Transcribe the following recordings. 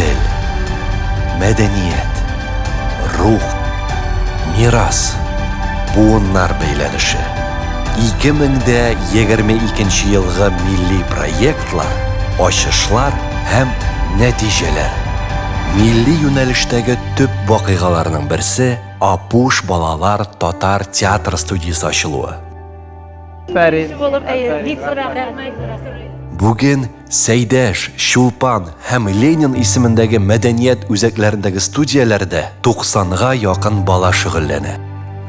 Тел. Мәдәният. Рух. Мирас. Буыннар бәйләнеше. 2022 елгы милли проектлар, ачышлар һәм нәтиҗәләр. Милли юнәлештәге төп вакыйгаларның берсе, Апуш балалар татар театр студиясе ачылуы. Бүген Сәйдәш, Чулпан һәм Ленин исемендәге мәдәният үзәкләрендәге студияләрдә 90 га якын бала шөгыльләнә.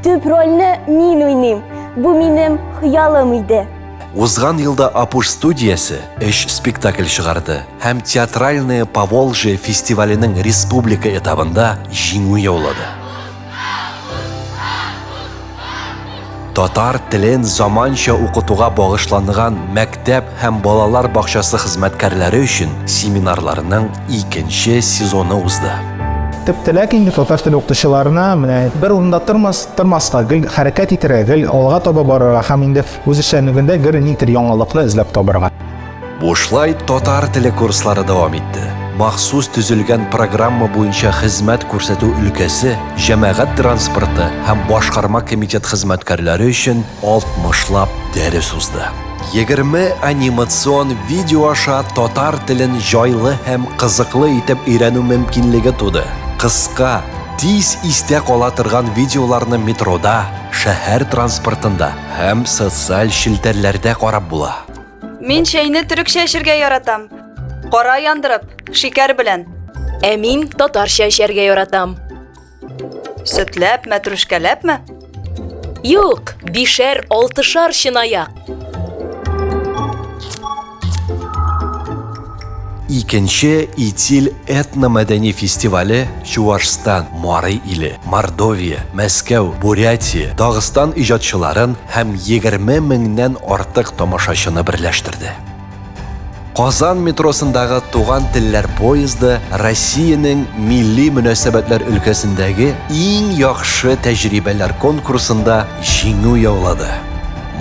Төп рольне мин уйныйм. Бу минем хыялым иде. Узган елда Апуш студиясе өч спектакль чыгарды һәм Театральное Поволжье фестиваленең республика этабында җиңү яулады. Татар телен заманча укытуга багышланган мәктәп һәм балалар бакчасы хезмәткәрләре өчен семинарларның икенче сезоны узды. Төп теләк инде татар теле укытучыларына менә бер урында тормас, тормаска, гел хәрәкәт итәргә, гел алга таба барырга һәм инде үз эшчәнлегендә гел никтер яңалыкны эзләп табарга. Бушлай татар теле курслары дәвам итте. Махсус төзелгән программа буенча хезмәт күрсәтү өлкәсе җәмәгать транспорты һәм башкарма комитет хезмәткәрләре өчен 60 лап дәрес узды. 20 анимацион видео аша татар телен җайлы һәм кызыклы итеп өйрәнү мөмкинлеге туды. Кыска, тиз истә кала торган видеоларны метрода, шәһәр транспортында һәм социаль челтәрләрдә карап була. Мин чәйне төрекчә эчәргә яратам. Кара яндырып, шикәр белән. Ә мин татарча эчәргә яратам. Сөтләп, мәтрүшкәләпме? Юк, бишәр, алтышар чынаяк. Икенче Итиль этномәдәни фестивале Чувашстан, Марый иле, Мордовия, Мәскәү, Бурятия, Дагыстан иҗатчыларын һәм 20 меңнән артык тамашачыны берләштерде. Казан метросындагы Туган телләр поезды Россиянең милли мөнәсәбәтләр өлкәсендәге иң яхшы тәҗрибәләр конкурсында җиңү яулады.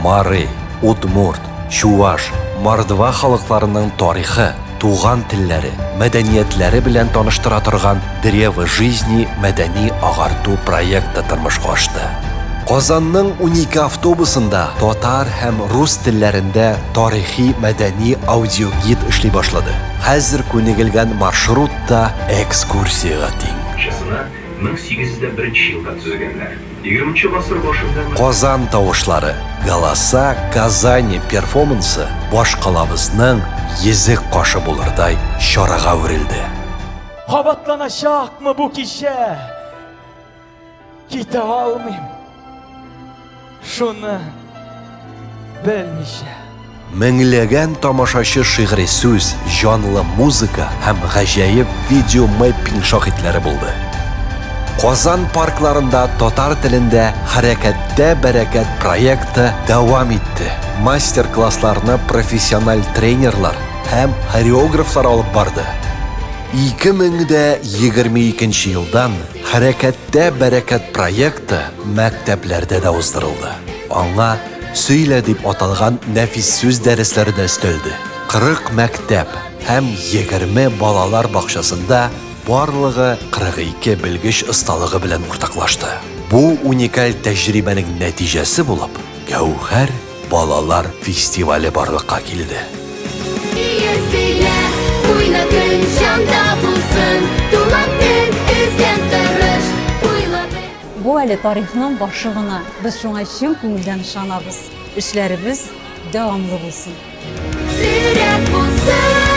Марый, Удмурт, Чуваш, мордва халыкларының тарихы, туган телләре, мәдәниятләре белән таныштыра торган Древо жизни мәдәни-агарту проекты тормышка ашты. Казанның унике автобусында татар һәм рус телләрендә тарихи-мәдәни аудиогид эшли башлады. Хәзер күнегелгән маршрут та экскурсиягә тиң. Чысына 1801 нче елда төзегәннәр. Егерменче гасыр башында мондый. Казан тавышлары, Голоса Казани перфомансы башкалабызның йөзек кашы булырдай чарага әверелде. Кабатланачакмы бу кичә? Китә алмыйм. Шуны белмичә. Меңләгән тамашачы шигъри сүз, җанлы музыка һәм гаҗәеп видеомэппинг шаһитләре булды. Казан паркларында татар телендә Хәрәкәттә бәрәкәт проекты дәвам итте. Мастер-классларны профессиональ тренерлар һәм хореографлар алып барды. 2022 елдан Хәрәкәт Тә бәрәкәт проекты мәктәпләрдә дә уздырылды. Аңа Сөйлә дип аталган нәфис сүз дәресләре дә өстәлде. 40 мәктәп һәм 20 балалар бакчасында барлыгы 42 белгеч осталыгы белән уртаклашты. Бу уникаль тәҗрибәнең нәтиҗәсе булып, Гәүһәр балалар фестивале барлыкка килде. Ие сөйлә, уйна көн җанда булсын, туган тел эзләп тырыш, уйла бел. Бу әле тарихның башы гына, без шуңа чын күңелдән ышанабыз. Эшләребез дәвамлы булсын! Сирәк булсын